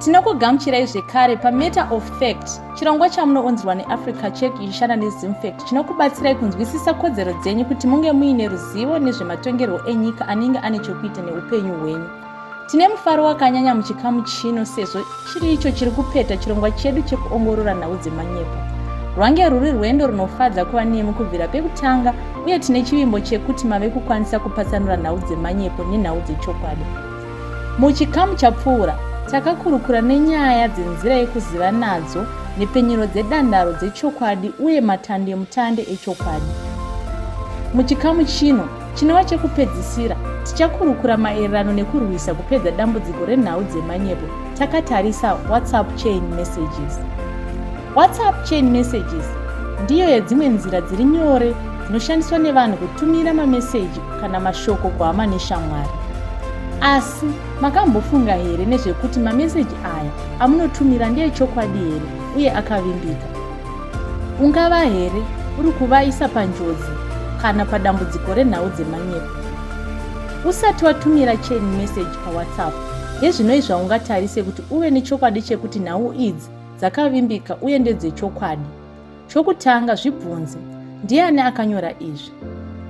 tinokugamuchirai zvekare pamatter of fact chirongwa chamunounzirwa neafrica check ichishanda nezimfact chinokubatsirai kunzwisisa kodzero dzenyu kuti munge muine ruzivo nezvematongerwo enyika anenge ane chokuita neupenyu hwenyu tine mufaro wakanyanya muchikamu chino sezvo Chiri icho chiri kupeta chirongwa chedu chekuongorora nhau dzemanyepo. Rwange rwuri rwendo runofadza kuva nemi kubvira pekutanga uye tine chivimbo chekuti mave kukwanisa kupatsanura nhau dzemanyepo nenhau dzechokwadi. Muchikamu chapfuura, takakurukura nenyaya dzenzira yekuziva nadzo nhepfenyuro dzedandaro dzechokwadi uye matandemutande echokwadi. Muchikamu chino, Chinova chekupedzisira, tichakurukura maererano nekurwisa kupedza dambudziko renhau dzemanyepo takatarisa WhatsApp chain messages. WhatsApp chain messages ndiyo yedzimwe nzira dziri nyore dzinoshandiswa nevanhu kutumira mameseji kana mashoko kuhama neshamwari. Asi makambofunga here nezvekuti mameseji aya amunotumira ndeechokwadi here uye akavimbika? Ungava here uri kuvaisa panjodzi kana padambudziko renhau dzemanyepo? Usati watumira chain message paWhatsApp, hezvinoi zvaungatarise kuti uve nechokwadi chekuti nhau idzi dzakavimbika uye ndedzechokwadi. Chokutanga, zvibvunze, Ndiani akanyora izvi?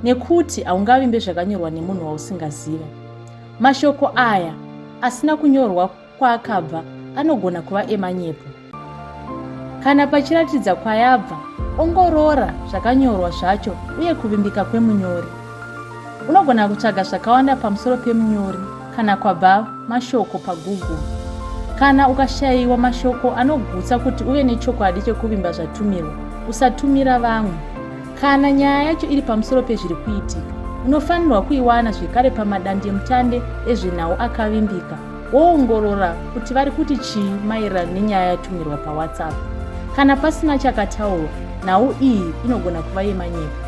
Nekuti haungavimbe zvakanyorwa nemunhu wausingaziva. Mashoko aya asina kunyorwa kwaakabva anogona kuva emanyepo. Kana pachiratidza kwayabva, ongorora zvakanyorwa zvacho uye kuvimbika kwemunyori. Unogona kutsvaga zvakawanda pamusoro pemunyori kana kwabva mashoko paGoogle. Kana ukashayiwa mashoko anogutsa kuti uve nechokwadi chekuvimba zvatumirwa, usatumira vamwe. Kana nyaya yacho iri pamusoro pezviri kuitika, unofanirwa kuiwana zvekare pamadandemutande ezvenhau akavimbika. woongorora kuti vari kuti chii maererano nenyaya yatumirwa pawhatsapp kana pasina chakataurwa nhau iyi inogona kuva yemanyepo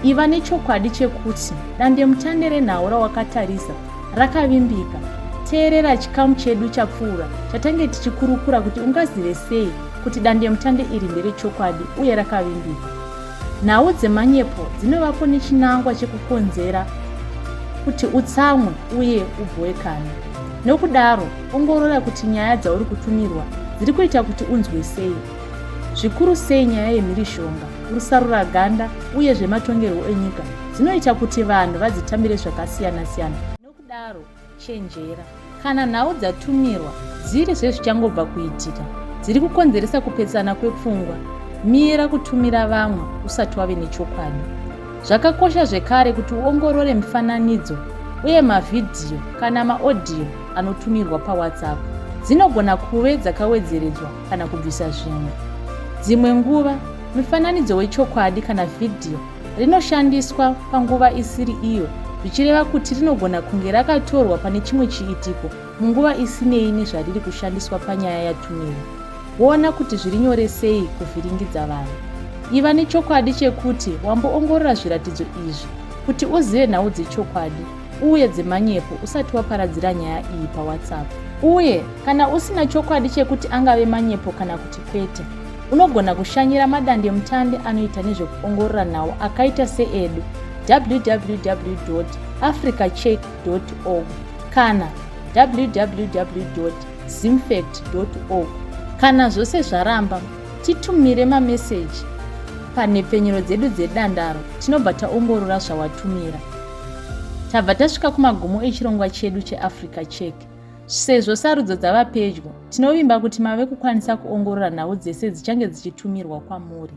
iva nechokwadi chekuti dandemutande renhau rawakatarisa rakavimbika teerera chikamu chedu chapfuura chatange tichikurukura kuti ungazive sei kuti dandemutande iri nderechokwadi uye rakavimbika Nhau dzemanyepo dzinovapo nechinangwa chekukonzera kuti utsamwe uye ubhowekane. Nokudaro, ongorora kuti nyaya dzauri kutumirwa dziri kuita kuti unzwe sei, zvikuru sei nyaya yemhirishonga, rusarura ganda uye zvematongerwo enyika dzinoita kuti vanhu vadzitambire zvakasiyana-siyana. Nokudaro, Chenjera. Kana nhau dzatumirwa dziri zvezvichangobva kuitika, dziri kukonzeresa kupesana kwepfungwa, mira kutumira vamwe usati wave nechokwadi. Zvakakosha zvekare kuti uongorore mifananidzo uye mavhidhiyo kana maodhiyo anotumirwa paWhatsApp. Dzinogona kuve dzakawedzeredzwa kana kubvisa zvimwe. Dzimwe nguva, mifananidzo wechokwadi kana vhidhiyo rinoshandiswa panguva isiri iyo zvichireva kuti rinogona kunge rakatorwa pane chimwe chiitiko munguva isinei nezvariri kushandiswa panyaya yatumiwa woona kuti zviri nyore sei kuvhiringidza vanhu iva nechokwadi chekuti wamboongorora zviratidzo izvi kuti uzive nhau dzechokwadi uye dzemanyepo usati waparadzira nyaya iyi pawhatsapp uye kana usina chokwadi chekuti angave manyepo kana kuti Kwete. Unogona kushanyira madandemutande anoita nezvekuongorora nhau akaita seedu www africacheck org kana www zimfact org kana zvose zvaramba titumire mameseji panhepfenyuro dzedu dzedandaro tinobva taongorora zvawatumira tabva tasvika kumagumo echirongwa chedu cheafrica check Sezvo sarudzo dzava pedyo, tinovimba kuti mave kukwanisa kuongorora nhau dzese dzichange dzichitumirwa kwamuri.